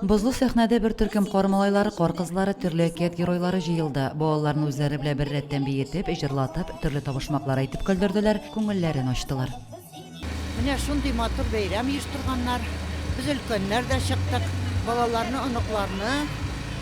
Бозлы сәхнәдә бер төркем кар малайлары, кар кызлары, төрле әкият геройлары җыелды. Балаларны үзләре белән беррәттән биетеп, җырлатып, төрле табышмаклар әйтеп көлдерделәр, күңелләрен ачтылар. Менә шундый матур бәйрәм оештырганнар. Без өлкәннәр дә чыктык. Балаларны, оныкларны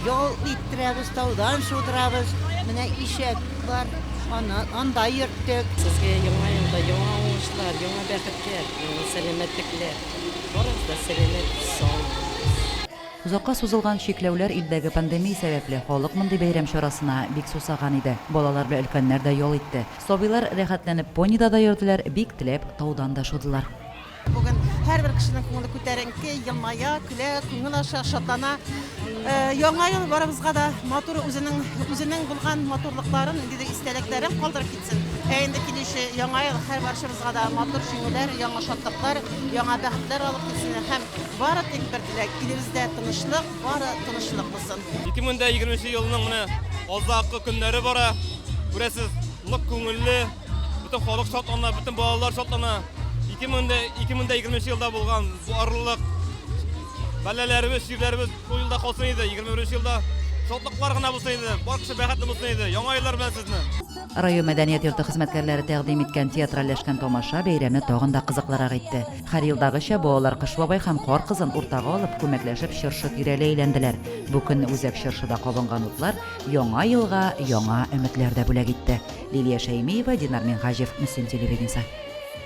ял иттерәбез, таудан шудырабыз. Менә ишәк бар, аны анда йөрттек. Сезгә яңа елда яңа уңышлар, яңа бәхетләр, яңа сәламәтлекләр. Барысы да сәламәт, саулык. Озакка сузылган чикләүләр, илдәге пандемия сәбәпле, халык мондый бәйрәм чарасына бик сусаган иде. Балалар белән өлкәннәр дә ял итте. Сабыйлар рәхәтләнеп понида да йөрделәр, бик теләп таудан да шудылар. Бүген һәрбер кешенең күңеле күтәренке, елмая, көлә, күңел ача, шатлана. Яңа ел барыбызга да матур, үзенең үзенең булган матурлыкларын, ниндидер истәлекләрен калдырып кит. Ә инде килүче яңа ел һәр барчабызга да матур җиңүләр, яңа шатлыклар, яңа бәхетләр алып килсен һәм бары тик бер теләк, илебездә тынычлык, бары тынычлык булсын. 2020 нче елның менә азаккы көннәре бара. Күрәсез, нык күңелле, бөтен халык шатлана, бөтен балалар шатлана. 2020 елда булган барлык бәлаләребез, чирләребез Шул елда калсын иде, 21 елда шатлыклар гына булсын иде, бар кеше бәхетле булсын иде. Яңа еллар белән сезне. Район мәдәният йорты хезмәткәрләре тәкъдим иткән театральләшкән тамаша бәйрәмне тагын да кызыклырак итте. Һәр елдагыча балалар Кыш бабай һәм Кар кызын уртага алып, күмәкләшеп чыршы тирәли әйләнделәр. Бу көнне үзәк чыршыда кабынган утлар Яңа елга яңа өметләр дә бүләк итте. Лилия Шәймиева, Динар Минһаҗев, Мөслим телевидениесе.